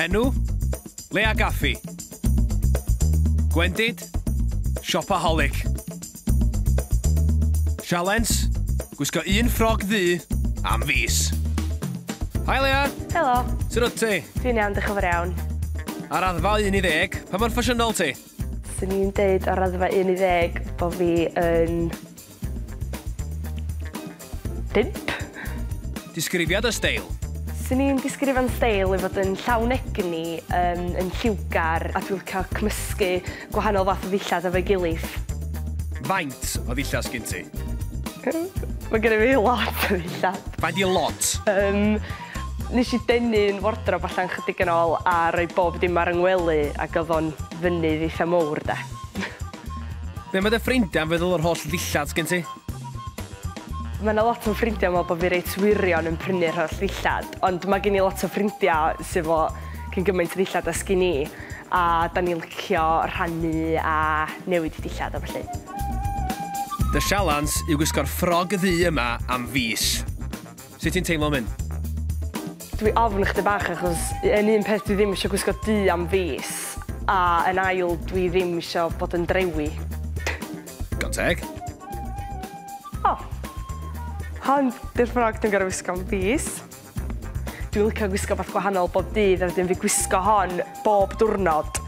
Enw? Lea Gaffi. Gwendid? Siopaholic. Sialens, gwisgo un ffrog ddu am fis. Hi Leah! Helo! Sut wyt ti? Dwi'n iawn, diolch yn fawr iawn. Ar raddfa 1 i ddeg, pa mor ffasiynol ti? Swn i'n deud ar raddfa 1 i ddeg bod fi yn... Bump. Disgrifiad y steil. Swn i'n disgrifio fy steil i fod yn llawn egni, yn yn lliwgar a dwi licio cymysgu gwahanol fath o ddillad efo'i gilydd. Faint o ddillad sgin ti? Mae gennyf fi lot o ddillad. Faint i lot? Yym, nes i denu'n wardrob allan chydig yn ôl a rhoi bob dim ar 'y ngwely ac oedd o'n fynydd eitha mowr 'de. Be' ma' dy ffrindiau'n feddwl o'r holl ddillad sgin ti? Mae 'na lot o fy ffrindiau yn meddwl bod fi reit wirion yn prynu'r holl ddillad, ond mae gen i lot o ffrindiau sydd efo cyn gymaint o ddillad â sgin i, a 'dan ni'n licio rhannu a newid dillad a ballu. Fy sialens yw gwisgo'r ffrog ddu yma am fis. Sut ti'n teimlo am hyn? Dwi ofn chdi bach achos yn un peth dwi ddim isio gwisgo du am fis a yn ail dwi ddim isio bod yn drewi. Digon teg. O! Hon 'di'r ffrog dwi'n gorfod wisgo am fis. Dwi'n licio gwisgo wbath gwahanol bob dydd a wedyn fi gwisgo hon bob diwrnod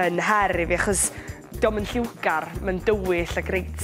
yn her i fi achos 'di o'm yn lliwgar, mae'n dywyll ac reit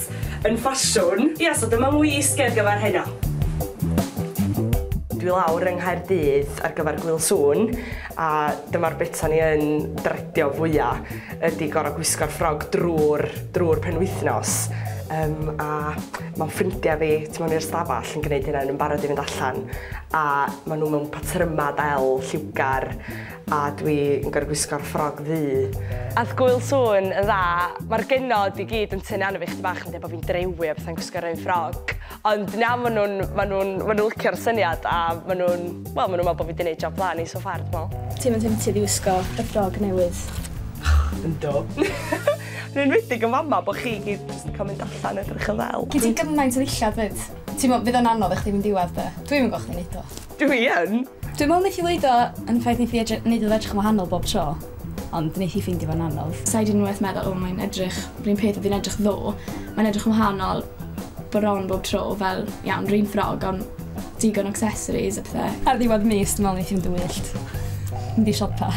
yn ffasiwn. Ia, so dyma wisg ar gyfer heno. Dwi lawr yng Nghaerdydd ar gyfer Gwyl Sŵn a dyma'r bit o'n i yn dredio fwya ydi gor'o' gwisgo'r ffrog drw'r drw'r penwythnos yym a ma' ffrindia fi tu mewn i'r stafall yn gneud hynna o'n nw'n barod i fynd allan a ma' nw mewn patryma del lliwgar A dwi yn gorfod gwisgo'r ffrog ddu. Ath Gŵyl sŵn yn dda. Mae'r genod i gyd yn tynnu arno fi 'chydig bach yn dweud bod fi'n drewi a pethau yn gwisgo'r un ffrog. Ond na, maen nhw'n, maen nhw'n, maen nhw'n licio'r syniad a maen nhw'n, wel, maen nhw'n meddwl bod fi wedi gwneud job dda arni so far, dwi'n meddwl. Ti'm yn temtid i wisgo y ffrog newydd? Yndw! Yn enwedig yn fama bod chi i gyd jyst yn cael mynd allan a edrych yn ddel. Gen ti gymaint o ddillad 'fyd. Ti'n gwybod, fydd o'n anodd i chdi mynd i weld e. Dwi'm yn gweld chdi'n wneud o. Dw i yn! Dwi'n meddwl neith hi weud o yn y ffaith neith hi edry- neud iddo edrych yn wahanol bob tro, ond neith hi ffeindio fo'n anodd. Sa'i di unwaith meddwl o mae'n edrych r'un peth odd hi'n edrych ddo, mae'n edrych yn wahanol bron bob tro fel iawn r'un ffrog on' digon o accessories a pethe. Ar ddiwedd mis dwi me'wl neith hi fynd yn wyllt. Mynd i siopa.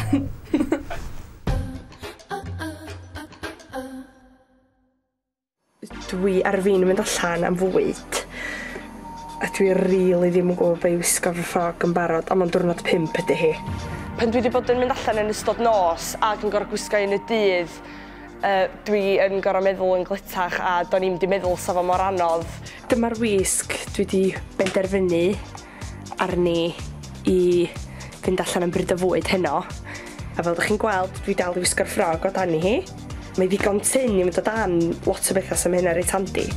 Dwi ar fin mynd allan am fwyd a dwi rili ddim yn gwbo be' i wisgo ar fy ffrog yn barod on' ma'n diwrnod pump ydi hi. Pan dwi 'di bod yn mynd allan yn ystod nos ag yn gor'o' gwisgo un y dydd yy dwi yn gor'o' meddwl yn gletach a do'n i'm 'di meddwl sa fo mor anodd. Dyma'r wisg dwi 'di benderfynu. arni i fynd allan am bryd o fwyd heno. A fel dych chi'n gweld, dwi dal i wisgo'r ffrog o dan i hi. Mae ddigon tyn i mynd o dan lot o bethau sy'n mynd hynna reit handi.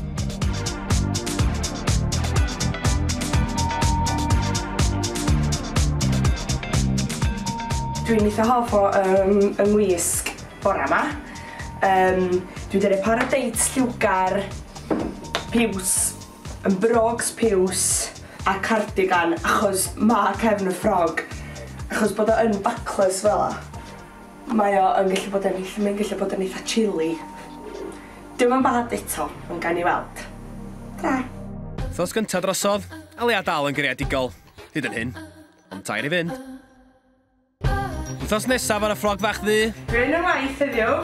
Dwi'n eitha hoff o um, yng ngwisg bora yma. Um, dwi'n dweud par o deits lliwgar, piws, Yn brogs piws a cardigan achos ma cefn y ffrog achos bod o yn backless fela mae o yn gallu bod yn ll- mae'n gallu bod yn eitha chilly. Dim yn bad eto ond gawn ni weld. Ta! Wthnos gynta drosodd, a leia dal yn greadigol, hyd yn hyn. Ond tair i fynd. Wythnos nesaf ar y ffrog fach ddu. Dwi yn y waith heddiw.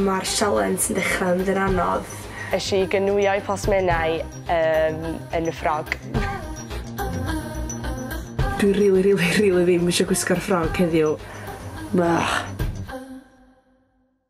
Mae'r sialens yn dechrau mynd yn anodd. Esh i gynwio'i plas menai um, yn y ffrog. Dwi rili, rili, rili ddim eisiau gwisgo'r ffrog heddiw. Blah.